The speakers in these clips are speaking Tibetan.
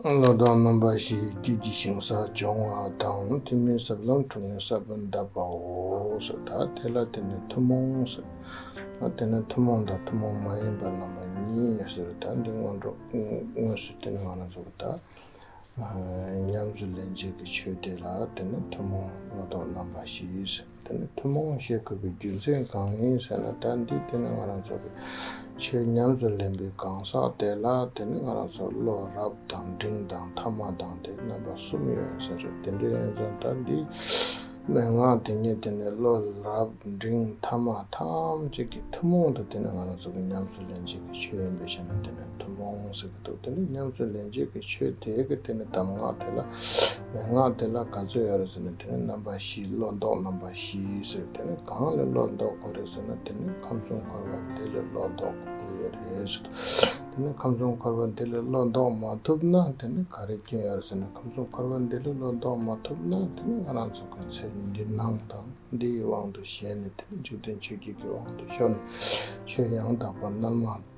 བློ་བཟང་རྣམ་པ་ཞེས་བརྒྱུད་ཀྱི་ཞིང་ས་སྦྱོང་བ་དང་ཐུན་མིན་ཟབ་ལམ་དྲུག་ནས་ས་བོན་གདབ་པའོ། ད་དེ་ལ་དེ་ནི་ཐུན་མོང་ཟེར། དེ་ནི་ཐུན་མོང་དང་ཐུན་མོང་མ་ཡིན་པ་རྣམ་པ་གཉིས་ཟེར། ད་འདི་སྔོན་འགྲོ་དངོས་སུ་བསྟེན་བ་ན་ཟུག་དང་ཉམས་སུ་ལེན་བྱེད་ཀྱི་ཆོས་དེ་ལ་དེ་ནི་ཐུན་མོང་བློ་ལྡོག་རྣམ་པ་ཞེས་ཟེར། དེ་ནི་ཐུན་མོང་བཤད་དགོས་པའི་རྒྱུ་མཚན་གང་ཡིན་ཟེར་ན་ད་འདི་དེ་ནི་ང་རང་ཚོ་གི་ཆེས་ཉམས་སུ་ལེན་པའི་གང་ཟག་དེ་ལ་དེ་ནི་ང་རང་ཚོར་བློ་རབ་དང་འབྲིང་དང་ཐ་མ་དང་དེ་རྣམ་པ་གསུམ་ཡོད་ཡིན་ས་རེད་དེ་འདྲའི་ཡིན་ཙང་ད་འདི་མན་ངག་དེ་ཉིད་དེ་ནི་བློ་རབ་འབྲིང་ཐ་མ་ཐམས་ཅད་ཀྱི་ཐུན་མོང་དུ་དེ་ནི་ང་རང་ཚོ་གི་ཉམས་སུ་ལེན་བྱེད་ཀྱི་ཆོས་ཡིན་པས་བཤད་ན་དེ་ནི་ཐུན་མོང་ཟེར་གྱི་འདུག་དེ་འདྲའི་ཉམས་སུ་ལེན་བྱེད་ཀྱི་ཆོས་དེའི་གི་དེ་ནི་གདམས་ངག་དེ་ལ་མན་ངག་འདི་ལ་ག་ཚོད་ཡོད་རེད་ཟེར་ན་དེ་ནི་རྣམ་པ་བཞིའི་བློ་ལྡོག་རྣམ་པ་བཞི་ཟེར་དེ་ནི་གང་ལས་བློ་ལྡོག་དགོས་རེད་ཟེར་ན་དེ་ནི་ཁམས་གསུམ་འཁོར་བ་འདི་ལས་བློ་ལྡོག་དགོས་ཀྱི་ཡོད་རེད་ཟེར་ཏོ། དེ་ནི་ཁམས་གསུམ་འཁོར་བ་འདི་ལས་བློ་ལྡོག་མ་ཐུབ་ན་དེ་ནི་ག་རེའི་སྐྱོན་ཡོད་རེད་ཟེར་ན་ཁམས་གསུམ་འཁོར་བ་འདི་ལས་བློ་ལྡོག་མ་ཐུབ་ན་དེ་ནི་ང་རང་ཚོ་གི་ཚེ་འདི་སྣང་དང་འདི་ཡི་དབང་དུ་བྱས་ནས་དེ་ནི་འཇིག་རྟེན་ཆོས་བརྒྱད་ཀྱི་དབང་དུ་ཤོར་ནས་ཆོས་ཡང་དག་པ་རྣལ་མ།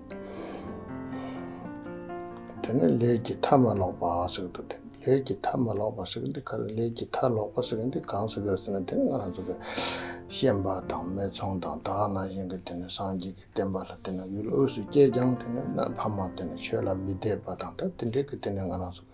དེ་ནི་ལས་ཀྱི་མཐའ་མ་ལོག་པ་ཞིག་ཏུ་ཐིམ། ལས་ཀྱི་མཐའ་མ་ལོག་པ་ཞིག་འདི་ག་རེ་ལས་ཀྱི་མཐའ་ལོག་པ་ཞིག་འདི་གང་ཞིག་རེད་ཟེར་ན་དེ་ནི་ང་ཚོ་གི་ཤེས་པ་དང་མི་མཚུངས་དང་དག་སྣང་བཞིན་གྱི་དེ་ནི་སངས་རྒྱས་ཀྱི་བསྟན་པ་ལ་དེ་ནི་ཡུལ་དབུས་སུ་སྐྱེས་ཀྱང་དེ་ནི་གནའ་ཕ་མ་དེ་ནི་ཆོས་ལ་མི་དད་པ་དང་ཐ་དད་འདྲེས་ཀྱི་དེ་ནི་ང་རང་ཚོ་གི།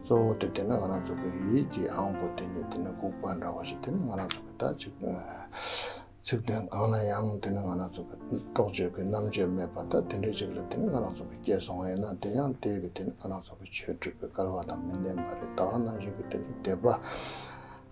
གཙོ་བོ་དེ་དེ་ནི་ང་རང་ཚོ་གི་ཡིད་ཀྱི་ཨང་པོ་དེ་ནི་དེ་ནི་ལྐུགས་པ་འདྲ་བ་ཞིག་དེ་ནི་ང་རང་ཚོ་གི་ད་ཅིག་ཚིག་དོན་གང་ན་ཡང་དེ་ནི་ང་རང་ཚོ་གི་རྟོག་དཔྱོད་ཀྱི་རྣམ་དཔྱོད་མེད་པ་ད་དེ་འདྲའི་ཅིག་ལ་དེ་ནི་ང་རང་ཚོ་གི་སྐྱེས་སོང་བ་ཡིན་ན་དེ་ཡང་དེས་ཀྱི་དེ་ནི་ང་རང་ཚོ་གི་ཆོས་སྒྲུབ་པའི་སྐལ་བ་དང་མི་ལྡན་པ་རེད་ད་བ་ན་གཞིག་གི་དེ་ནི་དད་པ་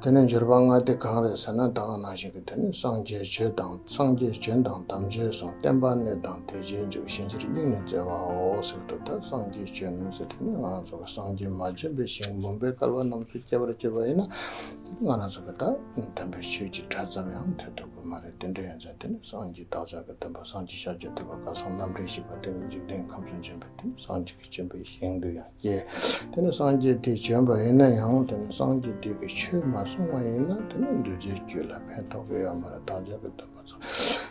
དེ་ནས་འགྱུར་པ་ལྔ་སྟེ་གང་རེད་ཟེར་ན་བདག་གང་ན་ཞིག་གི་དོན་ནི་སངས་རྒྱས་ཆོས་དང་སངས་རྒྱས་བྱོན་དང་དམ་བཅའི་གཟུངས་བསྟན་པ་གནས་དང་དེ་རྗེས་འཇུག་གཤིན་རྗེར་སྙིང་ནས་བརྩེ་བའོ་ཟེར་དུ་ད་སངས་རྒྱས་བྱོན་ནོ་ཟེར་དེ་ནས་ང་རང་ཚོ་གི་སངས་རྒྱས་མ་བྱོན་པའི་ཞིང་མུན་པའི་སྐལ་བ་རྣམས་སུ་སྐྱེ་བར་གྱུར་པ་ཡིན་ན་ང་རང་ཚོ་གི་ད་དམ་པའི་ཆོས་ཀྱི་གྲྭ་ཙམ་ཡང་ཐོས་ཐུབ་ཀྱི་མ་རེད་དེ་འདྲ་ཡིན་ཚེ་དེ་ནས་སངས་རྒྱས་བདག་ཅག་གི་སྟོན་པ་སངས་རྒྱས་ཤཱཀྱ་ཐུབ་པ་བཀའ་སྲུང་རྣམ་འདྲེན་བཞི་པ་དེ་ནི་འཇིག་རྟེན་ཁམས་སུ་འབྱོན་པའི་དེ་ནས་སངས་རྒྱས་ཀྱི་བྱོན་པའི་ཞིང་དུ་ཡང། ཀྱེ། དེ་ནི་སངས་རྒྱས་དེས་བྱོན་པ་ཡིན་ན་ཡང་དེ་ནི་སངས་རྒྱས་དེས་པའི་ཆོས་མ་གསུངས་བ་ཡིན་ན་དེ་ནི་འདུལ་བྱའི་རྒྱུད་ལ་ཕན་ཐོགས་པའི་ཡོད་མ་རེད་བདག་ཅག་གི་འདུན་པ་ཚོ།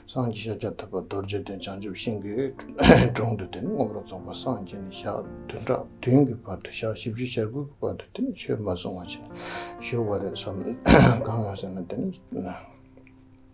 སངས་རྒྱས་ཤཱཀྱ་ཐུབ་པ་རྡོ་རྗེ་གདན་བྱང་ཆུབ་ཤིང་གི་དྲུང་དུ་དེ་ནི་ངོ་བོར་རྫོགས་པ་སངས་རྒྱས་ནས་ཞག་བདུན་ཕྲག་བདུན་གྱི་བར་དུ་ཞག་བཞི་བཞི་ཞག་དགུ་གི་བར་དུ་དེ་ནི་ཆོས་མ་གསུངས་བ་བྱིན་བཞུགས་པ་རེད་བསམ། གང་ཡོང་ཟེར་ན་དེ་ནི།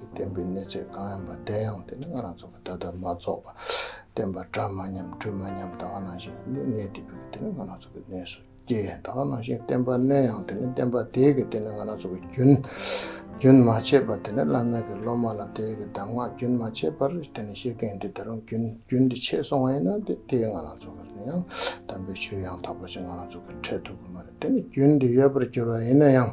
བསྟན་པའི་གནས་ཚད་གང་ཡིན་པ་བདེན་ཡང་དེ་ནི་སྔར་རང་ཚུགས་པ་ད་ལྟ་མ་རྫོགས་པ། བསྟན་པ་གྲ་མ་ཉམས་འཁྲུལ་མ་ཉམས་ད་ག་ནང་བཞིན་ཡིན་ནོ་གནས་དེ་བུ་གི་དེ་ནི་སྔར་རང་ཚུགས་པའི་གནས་སུ་སྐྱེ། ད་ག་ནང་བཞིན་བསྟན་པ་བསྣོལ་ཡང་དེ་ནི་བསྟན་པ་དེའི་གི་དེ་ནི་སྔར་རང་ཚུགས་པའི་རྒྱུན། རྒྱུན་མ་ཆད་པར་དེ་ནི་བླ་མེད་ཀྱི་སློབ་མ་ལ་དེའི་གི་གདམས་ངག་རྒྱུན་མ་ཆད་པར་དེ་ནི་ཤེས་མཁན་དེ་ད་རུང་རྒྱུན་རྒྱུན་དེ་ཆད་སོང་བ་ཡིན་ན་དེ་དེའི་སྔར་རང་ཚུགས་པ་ཡིན་ཡང་དམ་པའི་ཆོས་ཡང་དག་པ་ཞིག་སྔར་རང་ཚུགས་ཀྱི་འཕྲལ་ཐུག་གི་མ་རེད་དེ་ནི་རྒྱུན་དེ་ཡོད་པར་གྱུར་བ་ཡིན་ན་ཡང།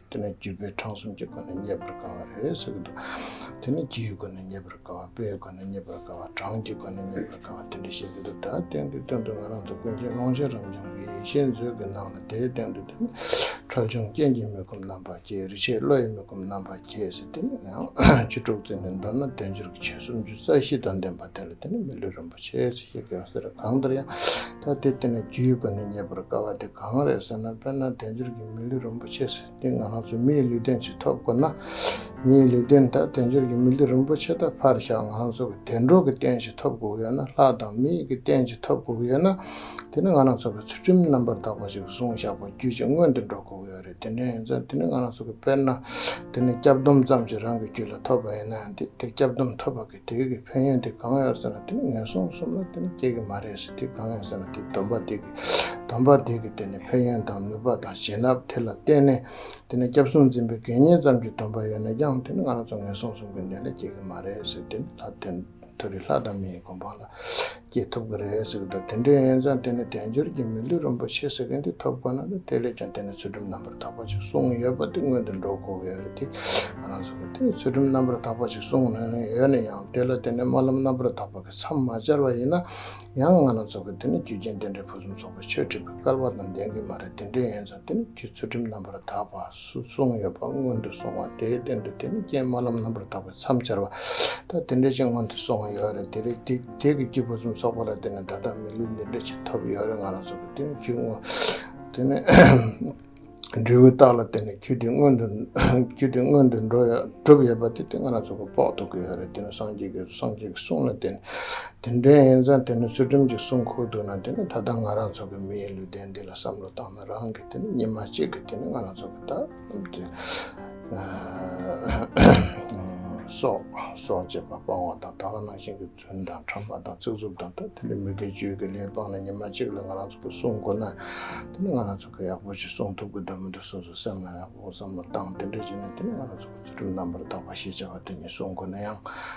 དེ་ནི་རྒྱུ་སྤུས་གྲངས་གསུམ་གྱི་སྒོ་ནས་རྙེད་པར་དཀའ་བ་རེད་ཟེར་གྱི་འདུག་དེ་ནི་རྒྱུའི་སྒོ་ནས་རྙེད་པར་དཀའ་བ་སྤུའི་སྒོ་ནས་རྙེད་པར་དཀའ་བ་གྲངས་ཀྱི་སྒོ་ནས་རྙེད་པར་དཀའ་བ་དེ་འདྲ་བཤད་ཀྱི་འདུག་ད་དེང་དུས་སྟོན་དུ་ང་རང་ཚོ་ཀུན་མཁྱེན་ཀློང་ཆེན་རབ་འབྱམས་ཀྱི་ཡེ་ཤེས་མཛོད་ཀྱི་ནང་ལ་དེའི་སྟེང་དུ་དེ་ནི་ཁྲོ་ཆུང་རྐྱེན་གྱིས་མི་ཁོམ་རྣམ་པར་སྐྱེས་རི་ཆད་བློ་ཡིས་མི་ཁོམ་རྣམ་པར་སྐྱེས་ཟེར་དེ་ནི་ཡང་བཅུ་དྲུག་ཚེ་ནས་མདོར་ན་བདེ་འབྱོར་གྱི་ཆོས་སུམ་ཅུ་རྩ་བཞི་དང་ལྡན་པ་དེ་ལ་དེ་ནི་མི་ལུས་རིན་པོ་ཆེ་ཞེས་བཤད་ཀྱི་ཡོད་ཟེར་གང་ལྟར་ཡང་ད་ལྟའི་དུས་ན་རྒྱུའི་སྒོ་ནས་རྙེད་པར་དཀའ་བ་དེ་གང་རེད་ཟེར་ན་དཔེར་ན་དལ་འབྱོར་གྱི་མི་ལུས་རིན་པོ་ཆེ་ཟེར་ཏེ་ང་རང་ཚོ་མིའི་ལུས་རྟེན་ཅིག་ཐོབ་དགོས་ན། མིའི་ལུས་རྟེན་དང་དལ་འབྱོར་གྱི་མི་ལུས་རིན་པོ་ཆེ་དག་ཕར་བཞག་ང་རང་ཚོ་གི་དལ་འབྱོར་གྱི་རྟེན་ཅིག་ཐོབ་དགོས་ཡོད་ན་ལྷ་དང་མི་ཡི་གི་རྟེན་ཅིག་ཐོབ་དགོས་ཡོད་ན། དེ་ནི་ང་རང་ཚོ་གི་ཚུལ་ཁྲིམས་རྣམ་པར་དག་པ་ཅིག་བཟུང་བཞག་པ་བརྒྱུད་ཅིག་སྔོན་དུ་འགྲོ་དགོས་ཡོད་རེད་དེ་འདྲ་ཡིན་ཙང་དེ་ནི་ང་རང་ཚོ་གི་དཔེར་ན་དེ་ནི་སྐྱབས་སྡོམ་ཙམ་ཞིག་རང་གི་རྒྱུད་ལ་ཐོབ་པ་ཡིན་ན་ཡང་དེ་སྐྱབས་སྡོམ་ཐོབ་པ་དེ་གི་ཕན་ཡོན་དེ་གང་ཡོད་ཟེར་ན་དེ་ནི་ངན་སོང་གསུམ་ལ་དེ་ནི་སྐྱེ་གི་མ་རེད་ཟེར་དེ་གང་ཡོད་ཟེར་ན་དེ་སྡོམ་པ་དེ་གི་སྡོམ་པ་དེ་གི་དེ་ནི་ཕན་ཡོན་དང་ནུས་པ་དང་བྱིན་རླབས་དེ་ལ་བརྟེན་ནས་དེ་ནི་སྐྱབས་སུ་འཛིན་པའི་དགེ་བསྙེན་ཙམ་གྱི་སྡོམ་པ་ཡོད་ན་ཡང་དེ་ནི་ང་རང་ཚོ་ངན་སོང་གསུམ་གི་མདུན་ལས་སྐྱེ་གི་མ་རེད་ཟེར་དེ་ནི་ལྷ་དོན་དུ་རི་ལྷ་དང་མི་ཡི་སྒོམ་སྤང་ལ་སྐྱེ་ཐུབ་ཀྱི་རེད་ཟེར་གི་འདུག་དེ་འདྲའི་ཡོན་ཙང་དེ་ནི་དལ་འབྱོར་གྱི་མི་ལུས་རིན་པོ་ཆེ་ཟེར་མཁན་དེས་ཐོབ་དགོས་ན་འདུག་དེ་ལས་ཀྱང་དེ་ནི་ཚུལ་ཁྲིམས་རྣམ་པར་དག་པ་ཞིག་གསུངས་ཡོད་པ་དེ་སྔོན་དུ་འགྲོ་དགོས་ཀྱི་ཡོད་རེད་དེ། ང་རང་ཚོ་གིས་དེ་ཚུལ་ཁྲིམས་རྣམ་པར་དག་པ་ཞིག་གསུངས་ནུས་ཡོད་ན་ཡང་དེ་ལ་དེ་ནི་སྨོན་ལམ་རྣམ་པར་དག་པ་གི་མཚམས་མ་སྦྱར་བ་ཡིན་ན་ཡང་ང་རང་ཚོ་གིས་དེ་ནི་རྒྱུ་རྐྱེན་དེ་འདྲའི་ཕུན་སུམ་ཚོགས་པའི་ཆོས་ཁྲིད་པའི་སྐལ་བ་དང་ལྡན་གྱི་མ་རེད་དེ་འདྲའི་ཡོན་ཙང་དེ་ནི་རྒྱུ་ཚུལ་ཁྲིམས་རྣམ་པར་དག་པ། སུ་བཙོང་ཡོད་པ་སྔོན་དུ་སོང་བ་དེའི་སྟེང་དུ་དེ་ནི་རྐྱེན་སྨོན་ལམ་རྣམ་པར་དག་པའི་མཚམས་སྦྱར་བ། ད་དེ་འདྲའི་རྐྱེན་སྔོན་དུ་སོང་བ་ཡོད་རེད་དེ་རེད་དེ་བརྒྱད་ཀྱི་སྐྱེས་བུ་གསུམ་ཚོགས་པ་ལ་དེ་ནི་ད་ལྟ་མི་ལུས་འདི་འདྲའི་ཆེད་ཐོབ་ཡོད་རེད་ང་རང་ཚོ་གི་དེ་ནི་རྒྱུ་དངོས། དེ་ནི་འབྲས་བུའི་རྟགས་ལ་དེ་ནི་རྒྱུ་དེ་སྔོན་དུ་རྒྱུ་དེ་སྔོན་དུ་འགྲོ་ཡོད་གྲུབ་ཡོད་པ་དེ་དེ་ང་རང་ཚོ་གི་དཔོག་ཐུབ་ཀྱི་ཡོད་རེད་དེ་ནི་སངས་རྒྱས་ཀྱི་སངས་རྒྱས་ཀྱི་གསུང་ལ་དེ་ནི་དེ་འདྲའི་ཡིན་ཙང་དེ་ནི་ཚུལ་ཁྲིམས་ཀྱི་གསུང་ཁུག་འདུག་ན་དེ་ནི་ད་ལྟ་ང་རང་ཚོ་གི་མིའི་ལུས་རྟེན་འདི་ལ་བསམ་བློ་བཏང་ན་རང་གི། དེ་ནི་ཉི་མ་གཅིག་གི་དེ་ནི་ང་ལ་རྫོགས་པའི་རྟགས་རྣམས་ཏེ། སྲོག་སྲོག་ཅེས་པ་སྤང་བ་དང་དག་ལ་སྣང་ཞིང་གི་རྫུན་དང་ཕྲ་མ་དང་རྩིག་རྩུབ་དང་དག་དེ་ནི་མི་དགེ་བཅུའི་གི་ལས་སྤངས་ནས་ཉི་མ་གཅིག་ལ་ང་ལ་རྫོགས་པའི་གསུང་གོ་ན། དེ་ནི་ང་ལ་རྫོགས་པའི་ཡག་པོ་ཞེས་གསུང་ཐུབ་ཀྱི་འདོད་མི་འདོད་སོ་སོའི་སེམས་ལ་ཡག་པོ་བསམ་བློ་བཏང་དེ་འདྲ་བྱས་ནས་དེ་ནི་ང་ལ་རྫོགས་པའི་ཚུལ་ཁྲིམས་རྣམ་པར་དག་པ་ཞེས་བྱ་བ་དེ་ཉིད་གསུང་གོ་ན་ཡང།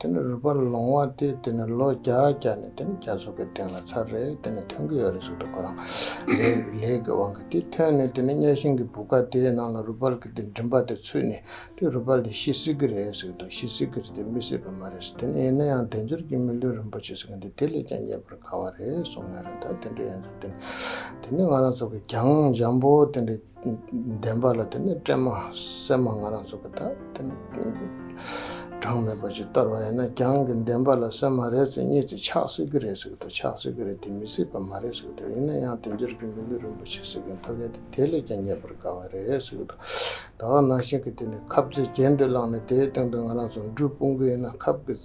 དེ་ནི་རུས་པ་ལོང་བ་སྟེ་དེ་ནི་ལོ་བརྒྱ་བརྒྱ་ནས་དེ་ནི་བརྒྱ་ཟུག་གི་སྟེང་ལ་ཚར་རེ་དེ་ནི་ཐོན་གྱི་ཡོད་རེ་ཟུག་ཏུ་ཁོ་རང་ལས་ལས་ཀྱི་དབང་གིས་དེ་ཐོན་ནས་དེ་ནི་གཉའ་ཤིང་གི་བུ་ག་དེའི་ནང་ལ་རུས་པ་ལ་གི་དེ་མགྲིན་པ་དེ་ཚུད་ནས་དེ་རུས་པ་ལས་ཤི་སྲིད་གི་རེད་ཟེར་གི་འདུག་ཤི་སྲིད་གི་རེད་དེ་མི་སྲིད་པ་མ་རེད་ཟེར་དེ་ནི་ཡིན་ན་ཡང་དལ་འབྱོར་གྱི་མི་ལུས་རིན་པོ་ཆེ་ཟེར་གི་འདུག་དེ་ལས་ཀྱང་རྙེད་པར་དཀའ་བ་རེད་གསུངས་ཡོད་རེད་ད་དེ་འདྲ་ཡིན་ཙང་དེ་ནི་ང་རང་ཚོ་གི་གྱང་འཇམ་པོ་དེ་འདྲ། བདེན་པ་ལ་དེ་ནི་བཀྲེན་མ་སེམས་མ་ང་རང་ཚོ་གི་དག་དེ་ནི་གྲངས་མེད་པ་ཅིག་བསྟར་བ་ཡིན་ན་རྒྱང་གི་བདེན་པ་ལ་སེམས་མ་རེད་ཚེ་གཉིས་ཚེ་ཆགས་སྲིད་ཀྱི་རེད་ཟེར་གི་འདུག་ཆགས་སྲིད་ཀྱི་རེད་དེ་མི་སྲིད་པ་མ་རེད་ཟེར་གི་འདུག་ཡིན་ན་ཡང་དེ་འབྱོར་གྱི་མི་ལུས་རིན་པོ་ཆེ་ཟེར་གི་འཐོབ་ཡ་དེ་དེ་ལས་ཀྱང་རྙེད་པར་དགའ་བ་རེད་ཟེར་གི་འདུག་ད་ནང་བཞིན་གྱི་དེ་ནི་ཁབ་རྩེ་རྒྱན་དེ་བླངས་ནས་དེའི་སྟེང་དུ་ང་རང་ཚོ་འབྲུ་སྤུངས་གི་ཡིན་ན་ཁབ་ཀྱི།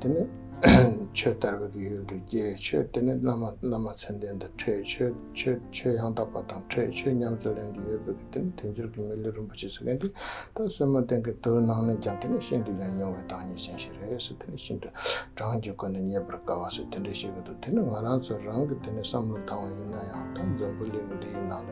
དེ་ནི་ཆོས་དར་བའི་དགེ་ཡུལ་དུ་སྐྱེ། ཆོས་དེ་ནི་བླ་མ་བླ་མ་ཚད་ལྡན་དུ་ཁྲེལ། ཆོས་ཆོས་ཡང་དག་པ་དང་ཁྲེལ་ཆོས་ཉམས་སུ་ལེན་རྒྱུ་ཡོད་པའི་དགེ་དེ་ནི་དལ་འབྱོར་གྱི་མི་ལུས་རིན་པོ་ཆེ་ཟེར་མཁན་དེ་ད་སོན་མ་ཏན་གྱི་མདོའི་ནང་ནས་ཀྱང་དེ་ནི་ཤིན་ཏུ་ཡང་ཉུང་བའི་བདག་ཉིད་ཅན་ཞིག་རེད་ཟེར་དེ་ནི་ཤིན་ཏུ་བགྲང་གྱི་སྒོ་ནས་རྙེད་པར་དཀའ་བ་ཟེར་དེ་འདྲ་ཞིག་གི་འདུག་དེ་ནི་ང་རང་ཚོ་རང་གི་དེ་ནི་བསམ་བློ་དྭངས་བ་ཡིན་ན་ཡང་ད་འཛམ་བུ་གླིང་འདི་ཡི་ནང་ནས།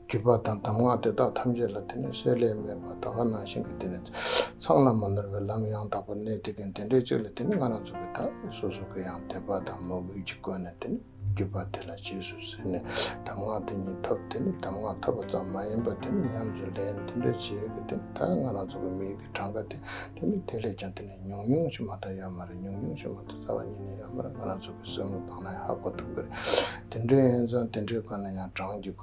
བརྒྱུད་པ་དང་གདམས་ངག་དེ་དག་ཐམས་ཅད་ལ་དེ་ནས་བསྲེ་བསླད་མེད་པར་ད་ག་ནང་བཞིན་གྱི་དེ་ནས་ཚང་བླ་མ་ནོར་བའི་ལམ་ཡང་དག་པར་གནས་དེ་གན་དེ་འདྲའི་གཅིག་ལ་དེ་ནས་སྔ་རང་ཚུགས་ཀྱི་དག་པས་སོ་སོ་གི་ཡང་དད་པ་དང་མོས་གུས་ཀྱིས་བཀོད་ནས་དེ་ནས་བརྒྱུད་པ་དེ་ལ་རྗེས་སུ་བསྲེ་ནས་གདམས་ངག་དེ་ཉིད་ཐོབ་དེ་ནས་གདམས་ངག་ཐོབ་པ་ཙམ་མ་ཡིན་པར་དེ་ནས་ཉམས་སུ་ལེན་དེ་འདྲའི་རྗེས་ཀྱི་དེ་ནས་དག་སྔ་རང་ཚུགས་ཀྱི་མི་ཡུལ་གྱི་གྲངས་ཀ་དེ་དེ་ནས་དེ་ལས་ཀྱང་དེ་ནས་ཉུང་ཉུང་ཕྱི་མ་དང་ཡོད་མ་རེད་ཉུང་ཉུང་ཕྱི་མ་དང་རྩ་བ་ཉིད་ནས་ཡོད་མ་རེད་སྔ་རང་ཚུགས་ཀྱི་སེམས་ལུགས་སྤངས་ན་ཧ་གོ་ཐུབ་ཀྱི་རེད་དེ་འདྲའི་ཡིན་ཙང་དེ་འདྲའི་དགོས་ན་ཡང་གྲངས་ཀྱི་དགོས་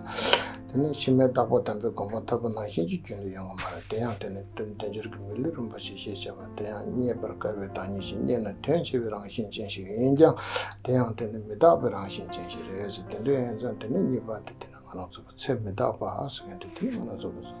དེ་ནས་ཕྱི་མའི་བདག་པོ་དམ་པའི་དགོངས་པ་མཐའ་པོ་ནང་བཞིན་གྱི་རྒྱུན་དུ་ཡོང་བ་མ་རེད་དེ་ཡང་དེ་ནི་དོན་བདེ་འབྱོར་གྱི་མི་ལུས་རུང་བ་ཞིག་ཞེས་བྱ་བ་དེ་ཡང་རྙེད་པར་དཀའ་བའི་བདག་ཉིད་ཞིག་རྙེད་ན་དོན་ཆེ་བའི་རང་བཞིན་ཅན་ཞིག་ཡིན་ཀྱང་དེ་ཡང་དེ་ནི་མི་རྟག་པའི་རང་བཞིན་ཅན་ཞིག་རེད་ཟེར་དེ་འདྲའི་ཡོན་ཙམ་དེ་ནི་རྙེད་པ་དེ་དེ་ནི་ང་རང་ཚོ་བོ་ཚལ་མི་རྟག་པ་ཟེར་མཁན་དེ་དེ་ནི་ང་རང་ཚོ་བོ།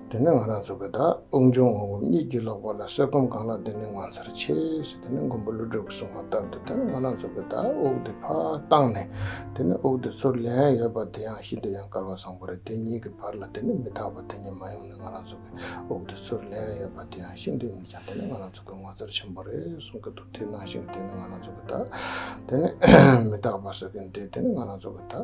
འདི་ནི་ང་རང་ཚོ་གི་དག་དབུགས་འབྱུང་འོང་སྒོམ་གཉིས་ཀྱི་ལོག་པ་ལ་གསེར་སྒོམ་གང་ལགས་འདི་ནི་ངོ་མཚར་ཆེ་ཞེས་དེ་ནས་མགོན་པོ་ཀླུ་སྒྲུབ་ཀྱི་གསུང་བ་ལྟར་དུ་དེར་ང་རང་ཚོ་གི་དག་དབུགས་འདི་ཕར་བཏང་ནས་དེ་ནས་དབུགས་འདི་ཚུར་ལེན་ཡོད་པ་དེ་ཡང་ཤིན་ཏུ་ཡང་དཀར་བ་བཟང་པོ་རེད་དེ་གཉིས་ཀྱི་བར་ལ་དེ་ནི་མི་དག་པ་དེ་གཉིས་མ་ཡོང་ནས་ང་རང་ཚོ་གི་དབུགས་འདི་ཚུར་ལེན་ཡོད་པ་དེ་ཡང་ཤིན་ཏུ་མིག་བྱང་དེ་ནི་ང་རང་ཚོ་གི་ངོ་མཚར་ཆེན་པོ་རེད་གསུང་གི་འདུག་དེ་ནང་བཞིན་གྱི་དེ་ནི་ང་རང་ཚོ་གི་དག་དེ་ནི་མི་དག་པ་སོ་གི་འདི་དེ་ནི་ང་རང་ཚོ་གི་དག།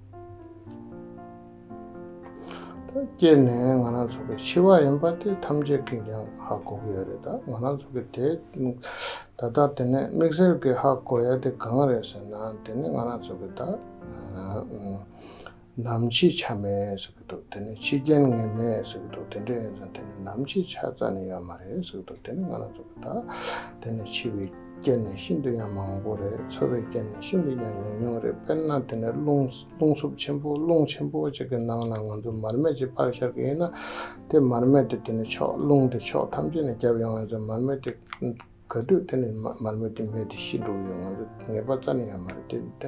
སྐྱེས་ནས་ང་རང་ཚོ་གི་འཆི་བ་ཡིན་པ་དེ་ཐམས་ཅད་ཀྱིས་ཀྱང་ཧ་གོ་གི་ཡོད་རེད་ད་ང་རང་ཚོ་གི་དེ་ད་ལྟ་དེ་ནས་དམིགས་བསལ་གྱིས་ཧ་གོ་ཡ་དེ་གང་རེད་ཟེར་ན་དེ་ནི་ང་རང་ཚོ་གི་ད་ནམ་འཆི་ཆ་མེད་ཐུབ་དེ་ནི་ཕྱི་རྒྱལ་ནས་ངས་མེད་ཟེར་གི་འདུག་དེ་འདྲས་ཡིན་ཙང་དེ་ནི་ནམ་ཕྱེད་ཆར་རྩ་ནས་ཡོད་མ་རེད་ཟེར་གི་འདུག་དེ་ནི་ང་ལ་མཚོན་པ་དག་དེ་ནི་འཕྱི་བའི་སྐད་ནི་ཤིན་ཏུ་ཡང་མང་པོ་རེད་འཚོ་བའི་སྐད་ནི་ཤིན་ཏུ་ཡང་ཉུང་ཉུང་རེད་དཔེར་ན་དེ་ནི་རླུང་རླུང་སྲུབས་ཆེན་པོ་རླུང་ཆེན་པོ་ཅིག་གི་ནང་ན་ང་ཚོ་མར་མེ་ཅིག་པགས་ཤར་གི་ཡིན་ན་དེ་མར་མེ་དེ་དེ་ནི་ཕྱོགས་རླུང་དེ་ཕྱོགས་ཐམས་ཅད་ནས་བརྒྱབ་ཡོང་བ་ཡིན་ཙང་མར་མེ་དེ་ག་དུས་དེ་ནི་མར་མེ་དེ་མེད་དེ་ཤི་འགྲོ་གི་ཡོད་ང་ཚོ་ངེས་པར་རྩ་ནས་ཡོད་མ་རེད་དེ་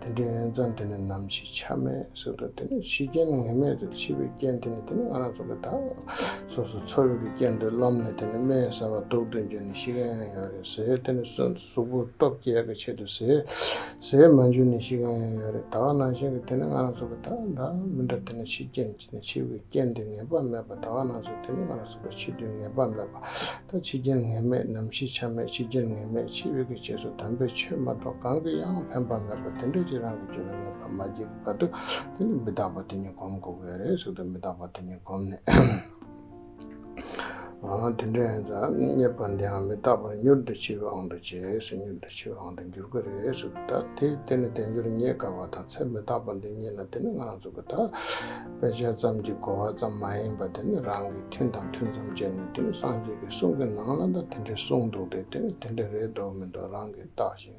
དེ་འདྲའི་ངན་འཛངས་དེ་ནི་ནམ་ཕྱེད་ཆ་མེད་སྲིད་དོ་དེ་ནི་ཕྱི་རྐྱེན་ངན་སྨྲས་ཚུལ་ཕྱི་བའི་རྐྱེན་དེ་ནི་དེ་ནི་ང་རང་ཚོ་གི་ད་སོ་སོ་འཚོ་བའི་གི་རྐྱེན་འདོད་ལམ་ནས་དེ་ནི་སྨན་ཟ་བ་དུག་འདོན་རྒྱུ་ནི་ཤི་གང་ཡང་ཡོད་རེད་ཟས་དེ་ནི་གསོན་དུ་གཟུགས་པོ་སྟོབས་རྒྱལ་གི་ཆེད་དུ་ཟས་ཟས་མ་འཇུ་ནི་ཤི་གང་ཡང་ཡོད་རེད་ད་བ་ནང་བཞིན་གི་དེ་ནི་ང་རང་ཚོ་གི་ད་འདྲ་མི་འདྲ་དེ་ནི་ཕྱི་རྐྱེན། འཆི་བའི་རྐྱེན་དེ་ངེས་པ་མེད་པ་དག་སྣང་སོ་དེ་ནི་སྣང་སྲིད་པ་འཆི་དུས་ངེས་པ་མེད་པ་དང་འཆི་རྐྱེན་ངེས་མེད་ནམ་ཞིག་ཆ་མེད་འཆི་རྐྱེན་ངེས་མེད་འཆི་བའི་གི་རྗེས་སུ་དམ་པའི་ཆོས་མ་གཏོགས་གང་གི་ཡང་ཕན་པ་མེད་པ་དེ་འདྲའི་ཕྱིར་རང་གི་རྒྱུད་ལ་ངེས་པར་མ་སྐྱེས་པའི་བར་དུ་དེ་ནི་མི་རྟག་པ་དེ་ཉིད་བསྒོམ་དགོས་པས་རེས་སུ་དུ་མི་རྟག་པ་དེ་ཉིད་བསྒོམས་ནས། དེ་འདྲ་ཡིན་ཙང་རྙེད་པ་འདིའང་མི་རྟག་པར་མྱུར་དུ་འཆི་བའང་འདུ་བྱེད་སུ་མྱུར་དུ་འཆི་བའང་དུ་འགྱུར་གྱི་རེད་ཟེར་གྱི་ད་དེ་དེ་ནི་དལ་འབྱོར་རྙེད་དཀའ་བ་དང་ཚེ་མི་རྟག་པ་འདི་རྙེད་ན་དེ་ནི་ང་ཚོ་གི་ད་དཔེ་ཆ་ཙམ་གྱི་གོ་བ་ཙམ་མ་ཡིན་པར་དེ་ནི་རང་གིས་མཐུན་དང་མཐུན་ཙམ་བྱས་ནས་དེ་ནི་སངས་རྒྱས་ཀྱི་གསུང་གི་ནང་ལ་ད་དེ་འདྲའི་གསུང་འདུག་སྟེ་དེ་ནི་དེ་འདྲ་རེད་འདོག་མི་འདོག་རང་གིས་བརྟག་ཅིང།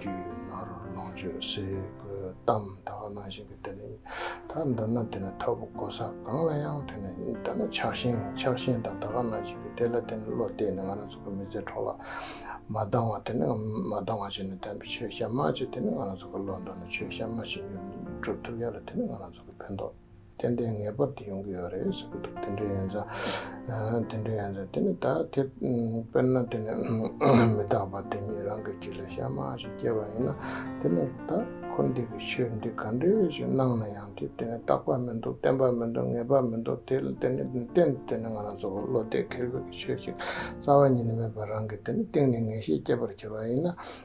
རྒྱུད་ང་རོ་ལོངས་སྤྱོད་གསེར་སྐུ་གཏམ་དག་སྣང་བཞིན་གྱི་དེ་ནི་ད་འདོད་ན་དེ་ནི་ཐབས་བུ་གོ་ས་གང་ལ་ཡང་དེ་ནི་ད་ནི་ཆགས་ཞེན་ཆགས་ཞེན་དང་ད་ག་སྣང་བཞིན་གྱི་དེ་ལ་དེ་ནི་བློ་གཏད་ནས་ང་རང་ཚོ་གི་མི་ཚེ་འཕྲོག་ལ་མ་ལྡང་བ་དེ་ནི་མ་ལྡང་བ་བྱས་ནས་དམ་པའི་ཆོས་ཞབས་མ་བྱས་དེ་ནི་ང་རང་ཚོ་གི་བློ་འདོར་ནས་ཆོས་ཞབས་མ་བྱས་ཉོན་མོངས་སྒྲུབ་ཐུབ་ཡ་ལ་དེ་ནི་ང་རང་ཚོ་གི་ཕན་ཐོགས། ཏན་ཏན་ངེས་པར་དུ་ཡོང་གི་ཡོད་རེད་ཟེར་གྱི་འདུག་དེ་འདྲའི་ཡོན་ཚད་དེ་འདྲའི་ཡོན་ཚད་དེ་ནི་ད་དེ་དཔེར་ན་དེ་ནི་མི་རྟག་པ་དེ་ཉིད་རང་གི་རྗེས་ལ་ཤ་མ་ཞིག་སྐྱེས་པ་ཡིན་ན་དེ་ནི་ད་འཁོར་འདས་ཀྱི་ཆོས་འདི་ག་འདྲས་ཞིག་སྣང་ན་ཡང་དེ་དེ་ནི་རྟག་པ་མི་འདུག་བརྟན་པ་མི་འདུག་ངེས་པ་མི་འདུག་དེ་ལ་དེ་ནི་གཏན་དུ་དེ་ནི་ང་རང་ཚོ་བློ་གཏད་ཁེལ་བོད་ཀྱི་ཆོས་ཅིག་རྩ་བ་ཉིད་ནས་མེད་པར་རང་གི་དེ་ནི་གཏིང་ནས་ངེས་ཤེས་སྐྱེས་པར་གྱུར་པ་ཡིན་ན་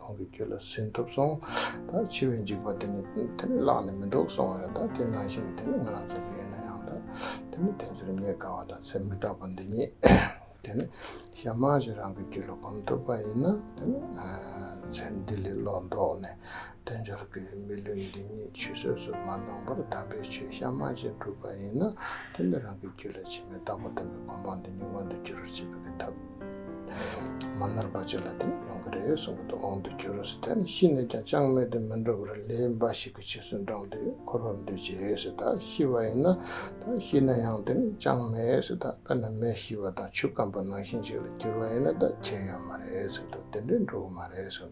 ཁོང་གི་རྒྱུད་ལ་སུན་ཐུབ་སོང། ད་འཆི་བའི་འཇིགས་པ་དེ་ནི་དེ་ནི་བརླག་ནས་མི་འདུག་སོང་བ་རེད་ད་དེ་ནང་བཞིན་གྱི་དེ་ནི་ང་རང་ཚོ་དགེ་ཡིན་ན་ཡང་ད་དེ་ནི་དེ་ཚོར་ཉེས་དགའ་བ་དང་ཚེ་མི་རྟག་པ་འདི་ཉིད་དེ་ནི་ཞག་མང་ཞིག་རང་གི་རྒྱུད་ལ་གོམས་ཐུབ་པ་ཡིན་ན་དེ་ནི་ཚེ་འདི་ལས་བློ་ལྡོག་ནས་དལ་འབྱོར་གྱི་མི་ལུས་འདི་ཉིད་ཆུད་ཟོས་སུ་མ་ལྷུང་པར་དམ་པའི་ཆོས་ཞག་མང་ཞིག་འགྲུབ་པ་ཡིན་ན་དེ་ནི་རང་གི་རྒྱུད་ལ་ཕྱི་མི་རྟག་པ་དམ་པའི་གོ་འཕང་འདི་ཉིད་མངོན་དུ་འགྱུར་བར་བྱེད་པའི་ཐབས། མ་ནོར་བ་ཅིག་ལ་དེ་ཡོང་གི་རེད་གསུང་གི་འདུག་འོང་དུ་གྱུར་རུང་ཟེར་ད་ནི་ཤི་ནས་ཀྱང་ཅང་མེད་དུ་མི་འགྲོ་བར་ལས་འབའ་ཞིག་གི་ཕྱིར་སུན་དྲངས་ཏེ་འཁོར་བར་འདུད་ཅེས་ཟེར་ད་ཤི་བ་ཡིན་ན་ད་ཤི་ན་ཡང་དེ་ནི་ཅང་མེད་ཟེར་ད་དཔེར་ན་མེ་ཤི་བ་དང་ཆུ་སྐམ་པོ་ནང་བཞིན་ཅིག་ལ་གྱུར་བ་ཡིན་ན་ད་ཁྱེད་ཡོད་མ་རེད་ཟེར་ད་དེ་འདྲས་འགྲོ་གི་མ་རེད་གསུང་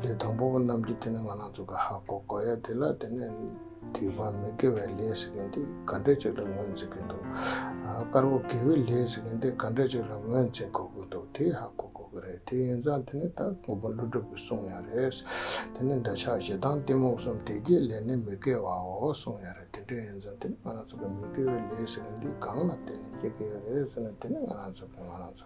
ལས་དང་པོ་པོ་རྣམས་ཀྱིས་དེ་ནི་ང་རང་ཚོ་གི་ཧ་གོ་གོ་ཡ་དེ་ལ་དེ་ནི་དུས་བབ་མི་དགེ་བའི་ལས་ཞིག་ཡིན་ཏེ་ག་འདྲས་ཅིག་ལ་ངོས་འཛིན་གྱི་འདུག་དཀར་པོ་དགེ་བའི་ལས་ཞིག་ཡིན་ཏེ་ག་འདྲས་ཅིག་ལ་ངོས་འཛིན་གོ་གི་འདུག་དེ་ཧ་གོ་གོ་གི་རེད་དེ་ཡིན་ཙང་དེ་ནི་ད་དངོས་པོ་ཀླུ་སྒྲུབ་ཀྱི་གསུང་ཡང་རེད། དེ་ནི་འདོད་ཆགས་ཞེ་སྡང་གཏི་མུག་གསུམ་དེ་རྒྱས་ལས་ནི་མི་དགེ་བའོ་གསུང་ཡང་རེད་དེ་འདྲས་ཡིན་ཙང་དེ་ནི་ང་རང་ཚོ་གི་མི་དགེ་བའི་ལས་ཞིག་ཡིན་ཏེ་གང་ལ་དེ་ནི་སྐྱེ་གི་ཡོད་རེད་ཟེར་ན་དེ་ནི་ང་རང་ཚོ་གི་ང་རང་ཚོ།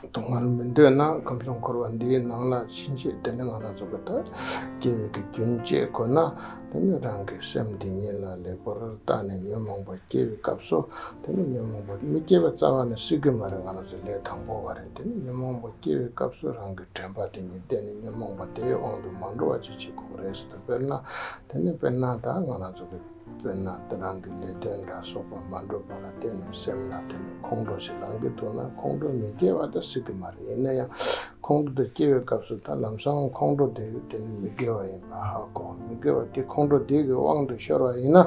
གཏོང་བར་མི་འདོད་ན་ཁམས་གསུམ་འཁོར་བ་འདིའི་ནང་ལ་ཕྱིན་ཆད་དེ་འདྲ་ང་ལ་བཟོ་གི་དང་སྐྱེ་བོས་ཀྱི་རྒྱུན་བཅད་དགོས་ན་དེ་ནི་རང་གི་སེམས་འདི་ཉིད་ལ་ལེགས་པོར་བརྟགས་ནས་ཉོན་མོངས་པ་སྐྱེ་བའི་སྐབས་སུ་དེ་ནི་ཉོན་མོངས་པ་མི་སྐྱེ་བའི་རྩ་བ་ནས་སྲིད་གི་མ་རེད་ང་ལ་བཟོ་ལས་དང་པོ་བ་རེད་དེ་ནི་ཉོན་མོངས་པ་སྐྱེ་བའི་སྐབས་སུ་རང་གི་དྲན་པ་དེ་ཉིད་བསྟན་ནས་ཉོན་མོངས་པ་དེའི་དབང་དུ་མ་འགྲོ་བ་ཅིག་བྱེད་དགོས་པ་རེད་ཟེར་དུ་དཔེར་ན་དེ་ནི་དཔེར་ན་དང་ང་ལ་བཟོ་གི། དཔེར་ན་བདག་རང་གི་ལས་དོན་འདྲ་སོགས་པ་མ་འགྲུབ་པ་ལ་བརྟེན་ནས་སེམས་ལ་དེ་ནས་ཁོང་ཁྲོ་ཞིག་ལངས་ཀྱི་འདུག་ན་ཁོང་ཁྲོ་མི་སྐྱེ་བ་དང་སྲིད་ཀྱི་མ་རེད་ཡིན་ན་ཡང་ཁོང་ཁྲོ་དེ་སྐྱེ་བའི་སྐབས་སུ་ད་ལམ་སང་ཁོང་ཁྲོ་དེ་དེ་ནས་མི་དགེ་བ་ཡིན་པ་ཧ་གོ་མི་དགེ་བ་དེ་ཁོང་ཁྲོ་དེ་གི་དབང་དུ་ཤོར་བ་ཡིན་ན་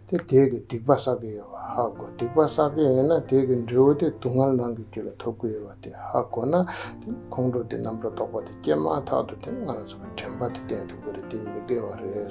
དེ་དེ་གི་སྡིག་པ་བསགས་ཀྱི་ཡོད་པ་ཧ་གོ་སྡིག་པ་བསགས་མཁན་ཡིན་ན་དེ་གི་འབྲས་བུ་དེ་སྡུག་བསྔལ་ནང་གི་རྒྱུ་ལ་ཐོབ་ཀྱི་ཡོད་པ་དེ་ཧ་གོ་ན་དེ་ནས་ཁོང་ཁྲོ་དེ་རྣམ་པར་རྟོག་པ་དེ་སྐྱེས་མ་ཐག་ཏུ་དེ་ང་ཚོ་གི་དྲན་པ་དེ་གཏན་དུ་དགོས་རེད་དེ་མི་དགེ་བ་རེད།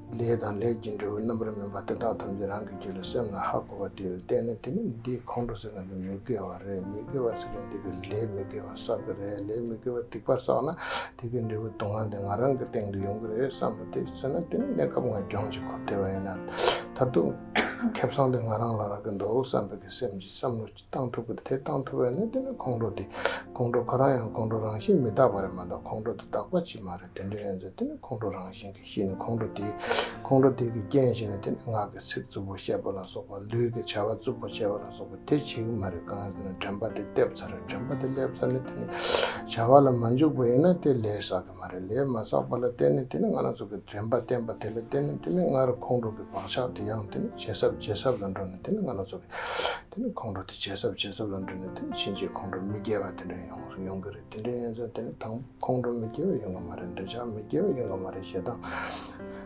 ལས་དང་ལས་ཀྱི་འབྲས་བུ་རྣམ་པར་སྨིན་པ་དེ་དག་ཐམས་ཅད་རང་གི་རྒྱུད་ལ་སེམས་ལ་ཧ་གོ་བ་དེས་བལྟས་ན་དེ་ནི་འདིས་ཁོང་ཁྲོ་ཟེར་བ་འདི་མི་དགེ་བ་རེད་མི་དགེ་བ་ཟེར་ན་འདི་གི་ལས་མི་དགེ་བ་བསགས་གི་རེད་ལས་མི་དགེ་བ་སྡིག་པ་བསགས་ན་དེ་གི་འབྲས་བུ་དུག་ལྔ་འདི་ང་རང་གི་སྟེང་དུ་ཡོང་གི་རེད་བསམ་མོ་དེས་ཟེར་ན་དེ་ནི་གནས་སྐབས་ང་རྒྱང་ཅིག་འཁོར་བསྡད་པ་ཡིན་ན་ད་དུང་ཁེ་བཟང་འདི་ང་རང་ལ་རག་གི་འདུག་བསམ་པའི་གི་སེམས་ཀྱིས་བསམ་བློ་ཅི་བཏང་ཐུབ་ཀི་རེད་དེ་བཏང་ཐུབ་པས་ན་དེ་ནི་ཁོང་ཁྲོ་དེ་ཁོང་ཁྲོ་ཁོ་རང་ཡང་ཁོང་ཁྲོ་རང་བཞིན་མི་རྟག་པ་རེད་མ་གཏོགས་ཁོང་ཁྲོ་དེ་རྟག་པ་ཅིག་མ་རེད་དེ་འདྲ་ཡིན་ཚེ་དེ་ནི་ཁོང་ཁྲོ་རང་བཞིན་ཞེས་ནི་ཁོང་ཁྲོ་དེས་ཁོང་ཁྲོ་དེ་གིས་རྐྱེན་བྱས་ནས་དེ་ནི་ངག་གི་ཚིག་རྩུབ་པོ་བཤད་པ་ལ་སོགས་པ་ལུས་ཀྱི་བྱ་བ་རྩུབ་པོ་བྱེད་པ་ལ་སོགས་པ་དེ་བྱེད་ཀྱི་མ་རེད་གང་ཟེར་ན་དྲན་པ་དེ་བསྟེབ་ཚར་རེད་དྲན་པ་དེ་སླེབས་ཚར་ནས་དེ་ནི་བྱ་བ་ལ་མ་འཇུག་པ་ཡིན་ན་དེ་ལས་བསགས་ཀྱི་མ་རེད་ལས་མ་བསགས་པ་ལ་བརྟེན་ནས་དེ་ནི་ང་ལ་སོགས་ཀྱི་དྲན་པ་བརྟེན་པ་དེ་ལ་བརྟེན་ནས་དེ་ནི་སྔར་ཁོང་ཁྲོ་གི་བག་ཆགས་དེ་ཡང་དེ་ནི་ཇེ་སྲབ་ཇེ་སྲབ་ལ་འགྲོ་ནས་དེ་ནི་ང་ལ་སོགས་ཀྱི་དེ་ནི་ཁོང་ཁྲོ་དེ་ཇེ་སྲབ་ཇེ་སྲབ་ལ་འགྲོ་ནས་དེ་ནི་ཕྱིན་ཆད་ཁོང་ཁྲོ་མི་རྒྱས་པ་དེ་འདྲ་ཡོང་གི་རེད། དེ་འདྲའི་ཡོན་ཚད་དེ་དང་ཁོང་ཁྲོ་མི་སྐྱེ་བའི་ཡོད་མ་རེད་འདོད་ཆགས་མི་སྐྱེ་བའི་ཡོད་མ་རེད་ཞེ་སྡང་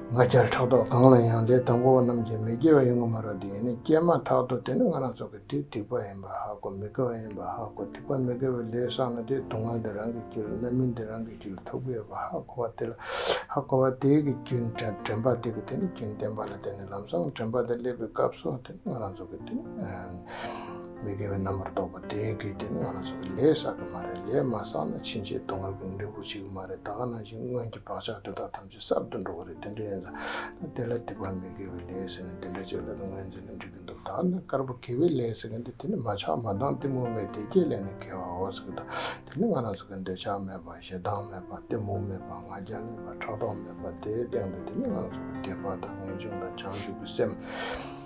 ང་རྒྱལ་ཕྲག་དོག་གང་ལ་ཡང་དེ་དང་པོ་བ་རྣམས་ཀྱིས་མི་སྐྱེ་བའི་ཡོད་མ་རེད་འདི་ཡིན་ནི་སྐྱེས་མ་ཐག་ཏུ་དེ་ནི་ང་རང་ཚོ་གི་དེ་ཐིག་པ་ཡིན་པ་ཧ་གོ་མི་དགོས་བ་ཡིན་པ་ཧ་གོ་ཐིག་པ་མི་དགོས་བའི་ལས་བསགས་ན་དེ་སྡུག་བསྔལ་འདི་རང་གིས་བསྐྱུར་རྣམ་སྨིན་འདི་རང་གིས་བསྐྱུར་ཐུག་གི་ཡོད་པ་ཧ་གོ་བ་དེ་ལ་ཧ་གོ་བ་དེ་གི་རྒྱུན་དྲན་པ་དེ་གི་དེ་ནི་རྒྱུན་བསྟན་པ་ལ་དེ་ནི་ལམ་བཟང་དྲན་པ་དེ་སླེབས་པའི་སྐབས་སོ་དེ་ནི་ང་རང་ཚོ་གི་དེ་ནི། མི་དགེ་བའི་རྣམ་པར་རྟོག་པ་དེ་གའི་སྟེང་ནས་ང་ལ་སོགས་པའི་ལས་བསགས་ཀྱི་མ་རེད་ལས་མ་བསགས་ན་ཕྱིན་ཆད་སྡུག་བསྔལ་གྱི་འབྲས་བུ་བྱེད་ཀྱི་མ་རེད་ད་ག་ནང་བཞིན་སྔོན་གྱི་བག་ཆགས་དེ་དག་ཐམས་ཅད་གསར་དུ་འགྲོ་གི་རེད་དེ་འདྲ་ཡིན་ཙང་ད་དེ་ལ་སྡིག་པ་མི་དགེ་བའི་ལས་ཟེར་ནས་དེ་འདྲ་བྱས་ལ་དེ་ངོས་འཛིན་ནས་འགྲིག་གི་འདུག་ད་ནི་དཀར་པོ་དགེ་བའི་ལས་ཟེར་གི་འདུག་དེ་ནི་མ་ཆགས་མ་འདང་གཏི་མུག་མེད་བདེ་སྐྱིད་ལས་ནི་དགེ་བའོ་ཟེར་གི་འདུག་དེ་ནི་ང་ལ་སོགས་པའི་འདོད་ཆགས་མེད་པ་ཞེ་སྡང་མེད་པ་གཏི་མུག་མེད་པ་ང་རྒྱལ་མེད་པ་ཕྲག་དོག་མེད་པ་དེའི་སྟེང་དུ་དེ་ནི་ང་ལ་སོགས་པའི་དད་པ་དང་ངེས་འབྱུང་དང་བྱང་ཆུབ་ཀྱི་སེམས།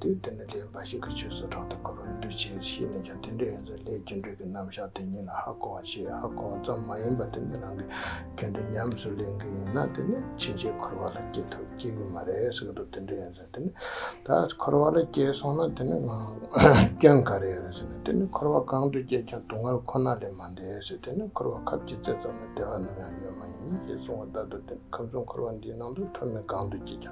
དུས་དེ་ནས་དེའི་འབའ་ཞིག་གི་ཆོས་སུ་གྲོང་དུ་འཁོར་བར་འདུས་བྱས་ཤེས་ནས་ཀྱང་དེ་འདྲའི་ཡོན་ཚད་ལྷའི་རྒྱུ་འབྲས་ཀྱི་རྣམ་གཞག་དེ་ཉིད་ལ་ཧ་གོ་བར་བྱེད་ཧ་གོ་བ་ཙམ་མ་ཡིན་པར་དེ་ནི་རང་གི་རྒྱུ་འབྲས་ཉམས་སུ་ལེན་གྱི་ཡིན་ན་དེ་ནི་ཕྱིན་ཆད་འཁོར་བ་ལ་སྐྱེ་ཐུབ་སྐྱེ་གི་མ་རེད་ཟེར་གི་འདུག་དེ་འདྲའི་ཡོན་ཚད་དེ་ནི་ད་འཁོར་བ་ལ་སྐྱེས་སོང་ན་དེ་ནི་སྐྱོན་ག་རེ་ཡོད་ཟེར་ནས་དེ་ནི་འཁོར་བ་གང་དུ་སྐྱེས་ཀྱང་སྡུག་བསྔལ་ཁོ་ན་ལས་མ་འདས་ཟེར་དེ་ནི་འཁོར་བ་ཁབ་ཀྱི་རྩེ་ཙམ་ལ་བདེ་བ་ནམ་ཡང་ཡོད་མ་ཡིན་ཞེས་གསུང་བ་ལྟར་དུ་དེ་ནི་ཁམས་གསུམ་འཁོར་བ་འདིའི་ནང་དུ་མཐོ་དམན་གང་དུ་སྐྱེས་ཀྱང།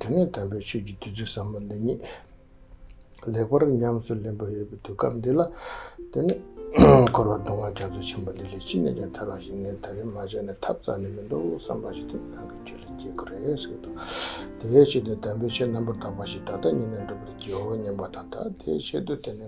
དེ་ནས་དམ་པའི་ཆོས་ཀྱི་བདུད་རྩི་ཟབ་མོ་འདི་ཉིད་ལེགས་པར་ཉམས་སུ་ལེན་པར་ཡོད་པའི་དུས་སྐབས་འདི་ལ་དེ་ནས་འཁོར་བ་སྡོང་བོ་རྒྱ་མཚོ་ཆེན་པོ་འདི་ལས་ཅི་ནས་ཀྱང་ཐར་བ་ཞིག་ངས་ད་རིང་མ་བྱས་ནས་ཐབས་རྩ་ནས་མི་འདུག་བསམ་པ་ཞིག་དེ་ནང་གི་རྒྱུད་ལ་སྐྱེས་ཁོ་རེ་ཟིག་འདུག་དེའི་ཆེད་དུ་དམ་པའི་ཆོས་རྣམ་པར་དག་པ་ཞིག་ད་ལྟ་ཉིད་ནས་འགྲུབ་པར་བགྱིའོ་སྙམ་པ་དང་དང་དེའི་ཆེད་དུ་དེ་ནས་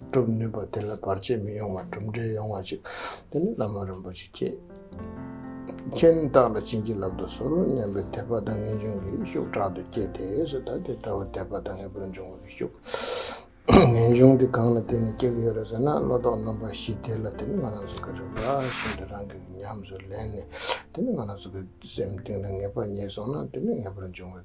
སྒྲུབ་ནུས་པ་དེ་ལ་བར་ཆད་མི་ཡོང་བར་གྲུབ་འབྲས་ཡོང་བ་ཞིག་དེ་ནི་བླ་མ་རིན་པོ་ཆེ་ཁྱེད་མཁྱེན་རྟགས་ལ་བྱིན་གྱིས་བརླབས་ཏུ་གསོལ་ལོ་སྙམ་པའི་དད་པ་དང་ངེས་འབྱུང་གིས་ཤུགས་དྲག་ཏུ་བསྐྱེད་དེས་ད་དེ་ལྟ་བུ་དད་པ་དང་ངེས་པར་འབྱུང་བའི་ཤུགས་ངེས་འབྱུང་དེ་གང་ལ་བརྟེན་ནས་སྐྱེ་གི་ཡོད་རེད་ཟེར་ན་བློ་ལྡོག་རྣམ་པ་བཞི་དེ་ལ་དེ་ནི་ང་རང་གཟུགས་ཀྱི་རིམ་པ་བཞིན་དུ་རང་གིས་ཉམས་སུ་ལེན་ནས་དེ་ནི་ང་རང་གཟུགས་ཀྱི་སེམས་གཏིང་ལ་ངེས་པ་རྙེད་སོང་ན་དེ་ནི་ངེས་པར་འབྱུང་བའི